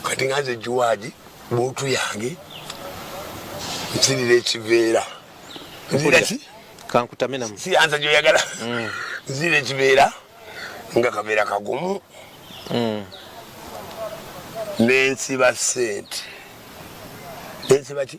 kati nga nze juwaadi bootu yange nsirira ekiveera nziraki kankutaminamu siyanza gyoyagala mm. nzira ekibeera nga kabeera kagumu mm. nensiba sente nensiba ki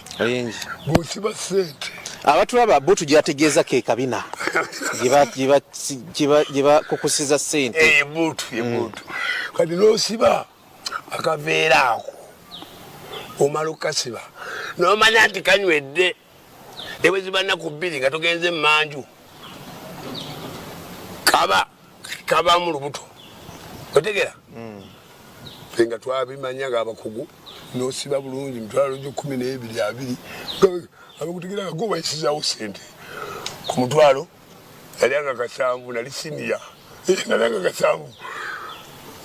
bwosiba sente abatulaba bo tujategeeza ke kabina gyebakukusiza sente eh, mm. kati nosiba akaveera ako omala okukasiba nomanya nti kanywedde nebweziba naku bbiri nga togenze emanju kaba kabamu lubuto otegera mm. nga twabimanya nga abakugu nosiba bulungi mitwalo gyo kumi n'ebiri abiri abakutegera nga gobayisizawo sente ku mutwalo yali anga kasanvu nali siniya eh, nali anga kasanvu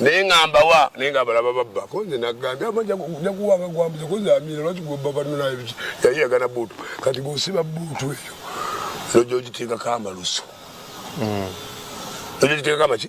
naye ngambawa naye ngabalaba babba konze nagambye amajakuwanga gwambuza konze amira lwaki gwebabanonayebiki yali yagana buutu kati gosiba buutu eyo nojogiteekako amalusu mm. nojogiteekako amaki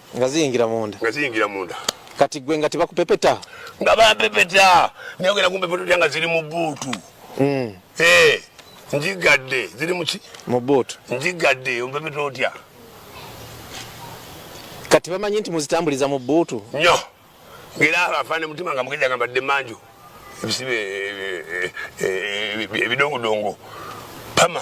nga ziyingira munda nga ziyingira munda kati gwe nga tebakupepeta nga bapepeta naye ogenda kumpepeta otya nga ziri mu buutu mm. eh, njigadde ziri muki mu buutu njigadde ompepeta otya kati bamanyi nti muzitambuliza mu buutu nyo ngaera afaana mutima nga mugezi agamba dde manju ebisibe eh, eh, ebidongudongo pama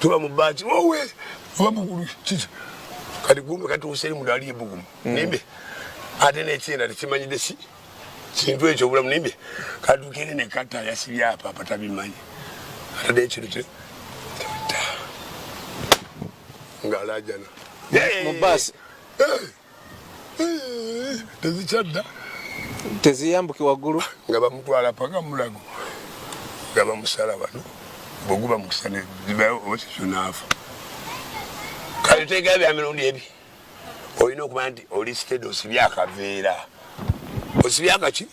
tuba mu baati wowe oba mugulu kiki kati gumbe katuuse eri mudaali ebugumu mm. nimbe ate nekyenda tekimanyidde si kintu ekyo obulamu nimbe katukere ne kata yasibye apa apa tabimanyi atade ekintu kye ng'alaajana mu baasi eh! tezikyadda teziyambuke waggulu nga bamutwala paka mulago nga bamusala wano bweguba mukisa nezibayo oba kikyo naafa kale tegera bya mirundi ebi olina okumanya nti oli sitedi osibye akaveera osibye akaki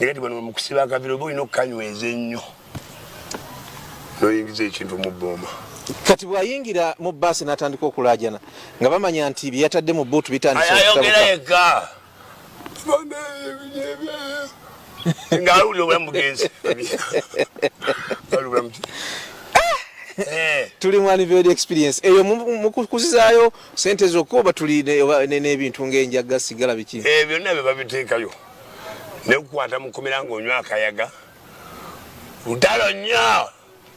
naye kati bano mukusiba akaviro oba olina okukanyweza ennyo noyingiza ekintu mu booma kati bwayingira mu baasi natandika okulajana nga bamanya nti byeyatadde mu buutu bitandiseayogera yekka nga alwulira obulamu bugenzi Eh. tuli mu aniverd experience eyo mukukuzizaayo sente zokka oba tuli n'ebintu ngaenjagga sigala biki eh, byonna bye babiteekayo nekukwata mukomera nga onywa akayaga ntalo nnyo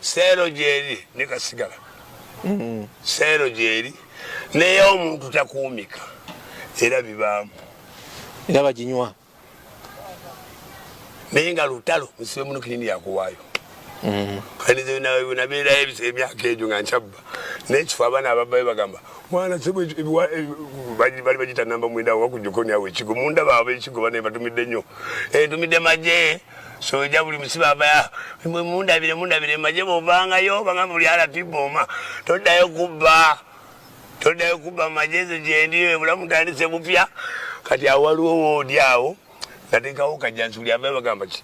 seero gyeri nekasigala mm-hmm. seero gyeri naye omuntu takuumika era bibaamu era baginywa naye nga lutalo musibe muno kinini yakuwaayo nabeerayo mm. emyaka egyo nga nkyabba nekifo abaana ababayo bagamba mwana bali bagita namba mwenda wakujuko nyawo ekigo munda baaba ekigo banaye batumidde nnyo entumidde eh, maje soja buli musibe abaya mundabire mundabire maje bovangayo banga buli alati boma toddayo kubba toddayo kubba majezo gyendi ebulamu tandise bupya kati awaliwo woodi awo natekawo kajansi buli abayo bagamba ki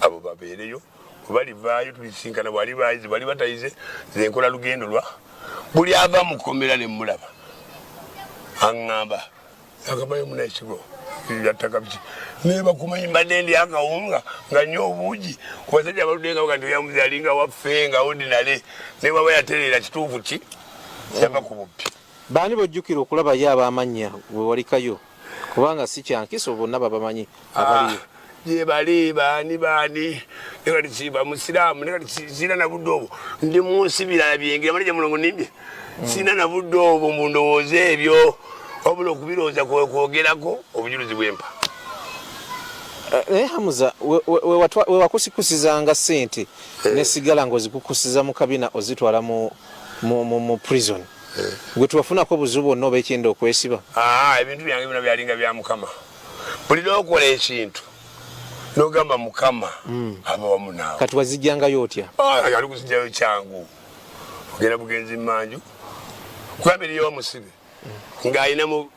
abo babeereyo webalivaayo tulisisinkana bwaliba ayize bwaliba tayize nze nkola lugendo lwa buli ava mu kkomera ne mmulaba aŋŋamba akamayo munaekigo yattaka biki naye bakumanyi mbadde ndi akawunga nga nyo obuugi ku basajja abaludde nga bagandi oyamuzi alinga waffe nga odinale naye baba yatereera kituufu ki yava ku bubbi baani bojjukira okulabayo ab'amannya we walikayo kubanga si kyankiso bonna babamanyi abaliyo ah, gyebali baani baani nekati kiba musiraamu nekati sirina nabudde obwo ndi munsi birala byengira manaja mulongo nimbye hmm. sirina nabudde obwo mu ndowooza ebyo wabula okubirowooza kwogerako obujulizi bwempa eh, naye hamuza wewakusikusizanga sente eh. nesigala ngaozikukusiza mu kabina ozitwala mu prison eh. gwe tubafunako obuzibu bwonna oba ekyenda okwesiba ah, ebintu byange bino byalinga bya mukama buli nokola ekintu nogamba mukama hmm. aba wamu naawe kati wazijjangayo otya ah, ali kuzijjayo kyangu ogenda bugenzi manju kuba biriyo omusibe hmm. ng'alinamu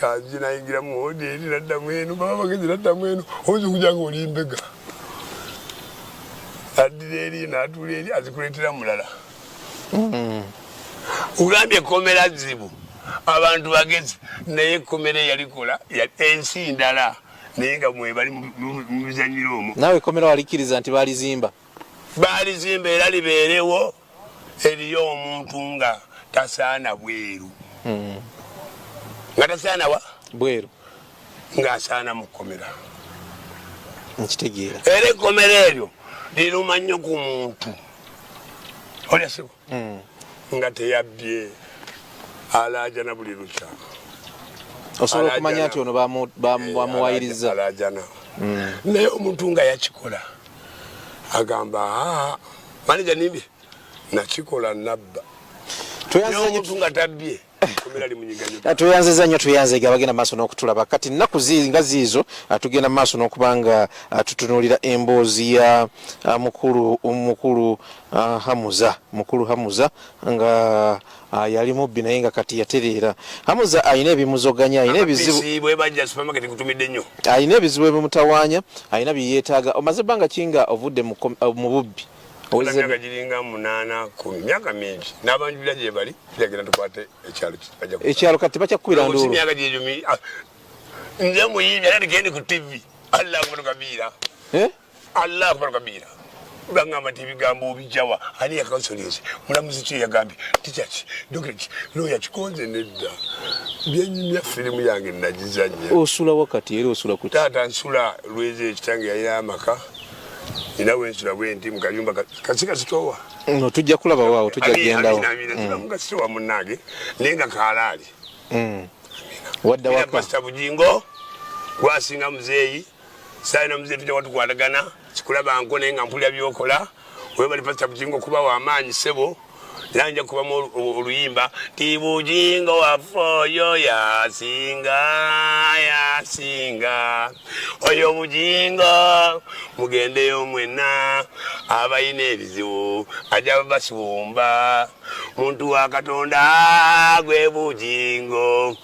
kanzi nayingira mu woderi naddamu eno baba bagenzi naddamu eno oyinza okuja nga oli mbega addira eri natuula eri azikuleetera mulala hmm. ugambye ekomera zibu abantu bagezi naye ekomera eyalikola ensi ndala naye nga mwebali mubizanyira omwo nawe ekomera walikiriza nti balizimba balizimba era libeerewo Eriyo omuntu nga tasaana bweru mm. nga tasaana wa bweru ng'asaana mu kkomera nkitegeera era ekkomera eryo liruma nnyo ku muntu olyasibo hmm. nga teyabbye alaajana buli lukya osobola okumanya nti ono bamuwayiriza hmm. naye omuntu nga yakikola agamba aa maneja nimbye nakikola nabba omuntu nga tabbye tweyanziza nnyo tweyanzega abagenda maaso n'okutulaba kati nnaku nga ziizo ah, tugenda maaso n'okuba nga ah, tutunuulira emboozi ya ah, mukulu mukulu hamuza mukulu hamuza nga Ah, yali mubbi naye nga kati yatereera hamuza alina ebimuzoganya alina ebizibu alina ebizibu ebimutawaanya alina byeyeetaaga omaze ebbanga kinga ovudde mu eh, bubbi myaka giringa munaana ku myaka mingi n'abanjulira gye bali tujagenda tukwate ekyalo ekyalo kati bakyakukubira nduulu myaka gyegyo ah, nze muyimbi era ndigende ku tivi allah akubano kabiira eh? allah akbar kabira bangamba nti ebigambo obijawa ani yakansolinze mulamuzi ki yagambye tichaki dokitaki loya kikonze nedda byenyumya firimu yange nagizanya osula wakati era osula ku taata nsula lweza ekitange yalina amaka ina wensula bwenti mukayumba kasika sitowa no tujja kulaba waawo tujja gendawo mm. kasitowa munange naye nga kaalaali mm. wadda waka bujingo gwasinga muzeeyi sayina muzee tujja watukwatagana kikulaba nko naye nga mpulira byokola webali pasita bujingo kuba wamaanyi sebo naye nja kubamu oluyimba ti bujingo waffe oyo yasinga yasinga oyo bujingo mugendeyo mwena abalina ebizibu aja basiwumba muntu wa katonda gwe bujingo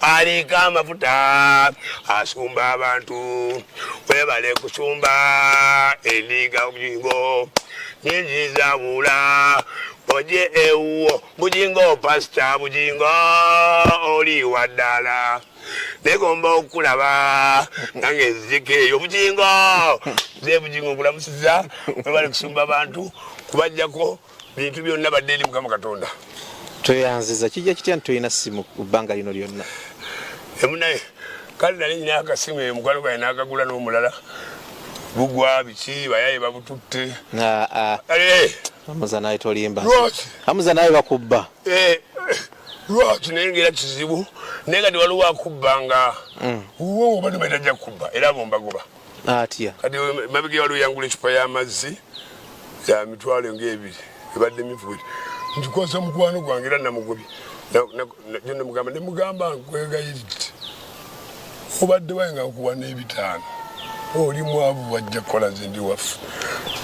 aliika amafuta asumba abantu webale kusumba endiga bujingo ninjizabula oje ewuwo bujingo pasita bujingo oli waddala negomba okulaba nange nzijeko eyo bujingo ze bujingo nkulamusiza webale kusumba abantu kubajjako bintu byonna badde eri mukama katonda tweyanziza kijja kitya nti tolina simu ku bbanga lino lyonna emunaye kale nali nyina akasimu eyo mukwano gwaye nakagula n'omulala bugwa biki bayaye babututte amuza naye tolimba amuza naye bakubba eh, lwaki naye ngaera kizibu naye kati waliwo akubba nga mm. wowo bano batajja kubba era bombagoba atya kati mabega waliwo yangula ecupa y'amazzi ya mitwalo ng'ebiri ebadde mivuuli nkikwasa mukwano gwange era namugobye nemugamba nemugamba nkwegayiridde obadde waye nga nkuwa n'ebitaano oli mwavu wajja kukola zindi waffe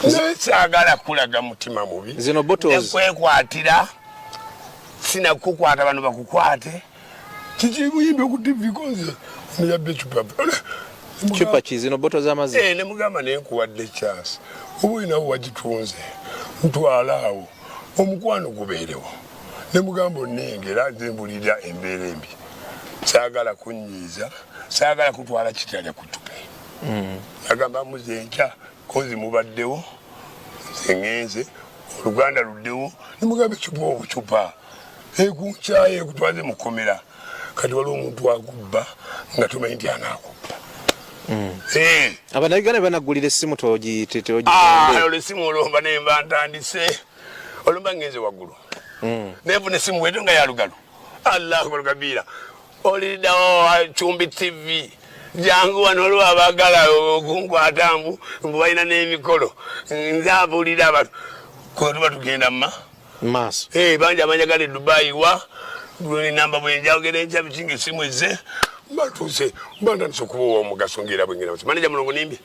naye saagala kulaga mutima mubi zino botoekwekwatira sinakukwata bano bakukwate kikibuyimbi okutivikonze niyabba ecupa cupa kizino boto zamazi eh, nemugamba naye nkuwadde chance oba olinawo wagitunze ntwala awo omukwano gubeerewo nemugamba onengera nze mbulira embeera embi saagala kunyiiza saagala kutwala kitalya kutupe mm. agamba muze nkya kozi mubaddewo nze ngenze oluganda luddewo nemugamba ecupa obucupa ekunkyaye ekutwaze mukomera kati waliwo omuntu agubba nga tumanyi nti anakubba hmm. eh. abanayuganda bebanagulira esimu togitolesimu esimu olomba nemba ntandise olomba ngenze waggulu hmm. nenfuna esimu weto nga yalugalo allahu akbar kabira Olidawo wa Chumbi TV jangu wano olwo abagala okunkwata mbu mbu balina n'emikolo nze abuulira abantu kwetuba tugenda ma maaso eh, bangi abanyagala edubayi wa namba bwenjawogera enkya bikinga esimu ezze batuuse bandandise okuba owomugaso ngaera bwengera maneja mulongo nimbi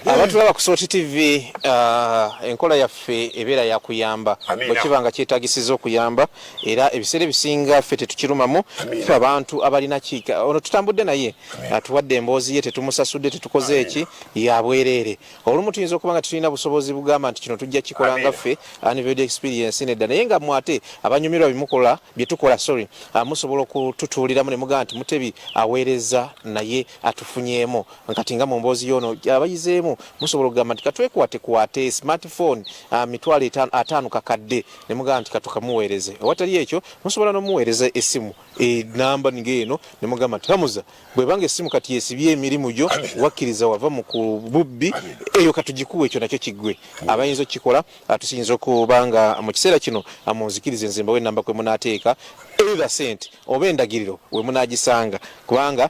eh. abatulaba ku soti tv uh, enkola yaffe ebeera yakuyamba bwekiba nga kyetagisiza okuyamba era ebiseera ebisinga ffe tetukirumamu fe abantu abalina kiika ono tutambudde naye atuwadde emboozi ye tetumusasudde tetukoze eki yabwereere olumu tuyinza okuba nga tetulina busobozi bugamba nti kino tujja kikola nga ffe anived experience nedda naye nga mwate abanyumirwa bimukola byetukola sorry ah, musobola okututuuliramu ne mugamba nti mutebi aweereza naye atufunyeemu kati nga mu mboozi yoono abayizeemu musobola okugamba nti katwekwatekwate smartphone ah, mitwalo ataano kakadde ne mugamba nti katukamuweereze awatali ekyo musobola n'omuweereza essimu enamba nga eno ne mugamba nti hamuza bwebanga essimu kati yesibye emirimu gyo wakkiriza wava mu ku bubbi eyo katugikuwa ekyo nakyo kiggwe abayinza okukikola tusiyinza okuba nga mu kiseera kino amunzikiriza enzimbawo enamba kwe munaateeka either sente oba endagiriro we munaagisanga kubanga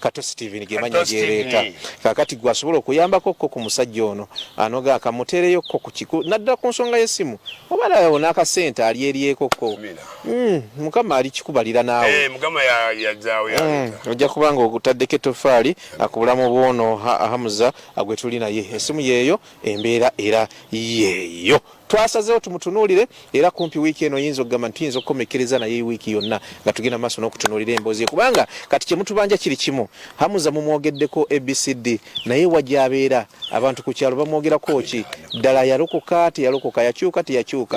kato steven gemanya gereeta kakati gwe asobola okuyambako ko ku musajja ono anoga akamuteereyo ko ku kiku naddala ku nsonga y'essimu oba nawo n'akasente ali eryeko ko hmm, mukama ali kikubalira naawe eh, hmm, ojja kuba nga ogutaddeko ettofaali akubulamu bwono hamuza gwe tuli naye essimu yeeyo embeera era yeeyo Twasazeewo tumutunuulire era kumpi wiiki eno yinza okugamba nti tuyinza okukomekkereza naye wiiki yonna nga tugenda maaso n'okutunuulira emboozi kubanga kati kye mutubanja kiri kimu. Hamuza mumwogeddeko ABCD naye wa gy'abeera abantu ku kyalo bamwogerako ki? Ddala yalokoka teyalokoka, yakyuka teyakyuka?